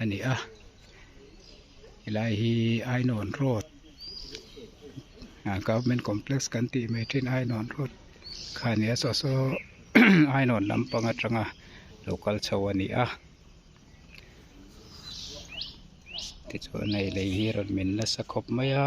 a ni a helai hi ainuan road government complex kan tih mai thin ainuan road kha a ni a saw saw ainuan lampang atanga lo kal chho a ni a tichuan hei lei hi a rawn min nasa khawp mai a.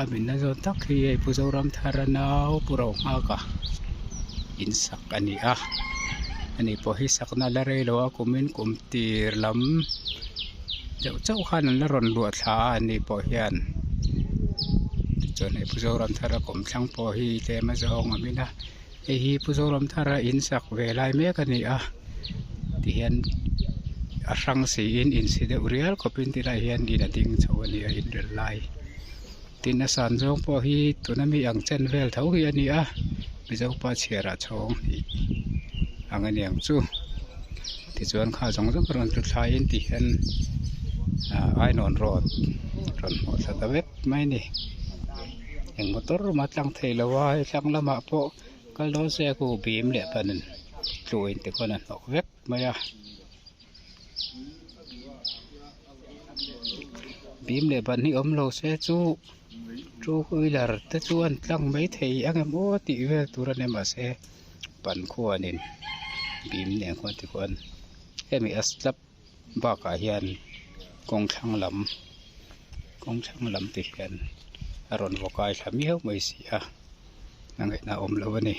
A hminna zawt tak hi hei Pu Zoramthar a nau Pu Rohngaka in sak a ni a a ni pawh hi sakna la rei lo a kum in kum tir lam deuh chauh khan an la rawn luah thla a a ni pawh hian tichuan hei Pu Zoramthara kum thlang pawh hi tlem a zawng ang in a. hei hi pu zoramthara in sak ve lai mek a ni a tihian a hrang si in in si deuh rial khawp in ti lah hian in a ding chho a ni a inrel lai tin a san zawng pawh hi tuna mi ang chen vel tho hi a ni a mizopa chhiara chhawng tih ang a niang chu tichuan kha zawng zawng a rawn tlu thlai in tih hian ah ainawn road rawn hmuh thla ta vek mai a ni. eng maw tur mah a tlang theih lova hei thlang lamah pawh kal dawn se a ku bîm leh ban tluh in te khawn a hnawk vek mai a bîm leh ban hi awm lo se chu two wheeler te chuan tlang mai thei ang em aw tih vel tur a ni mahse ban khuanin bîm leh khuan te khawn hemi a slab -- Bakah hian kawng thlang lam kawng thlang lam te hian a rawn vakai thla miau mai si a a ngaihna awm lo a ni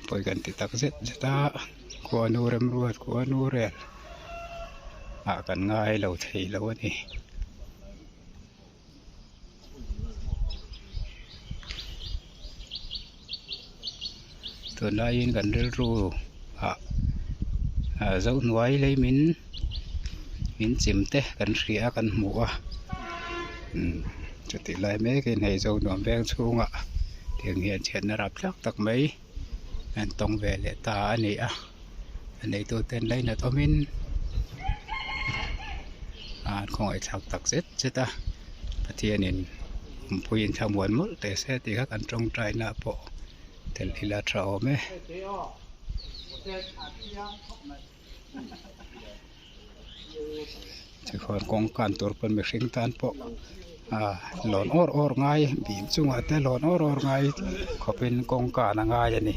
pawi kan ti tak zet zet a khuanu remruat khuanu rel ah kan ngailo theilo a ni. tunlaiin kan rilru ah ah zohnuai lei min min chim te kan hria kan hmu a umm chutih lai mek in hei zo nuam veng chhungah tiang hian chhiatna rap thlak tak mai. an tawng ve leh ta a ni a a neitu ten lei nat awmin ahh an khawngaih thlak tak zet zet a pathianin mipui in thla muan mawlh teh se tih kha kan tawngtai na pawh tel ila tha awm e. Tichuan kawngkan tur pawn mihring tan pawh ah lawn awr awr ngai bim chungah te lawn awr awr ngai khawpin kawngkan a ngai a ni.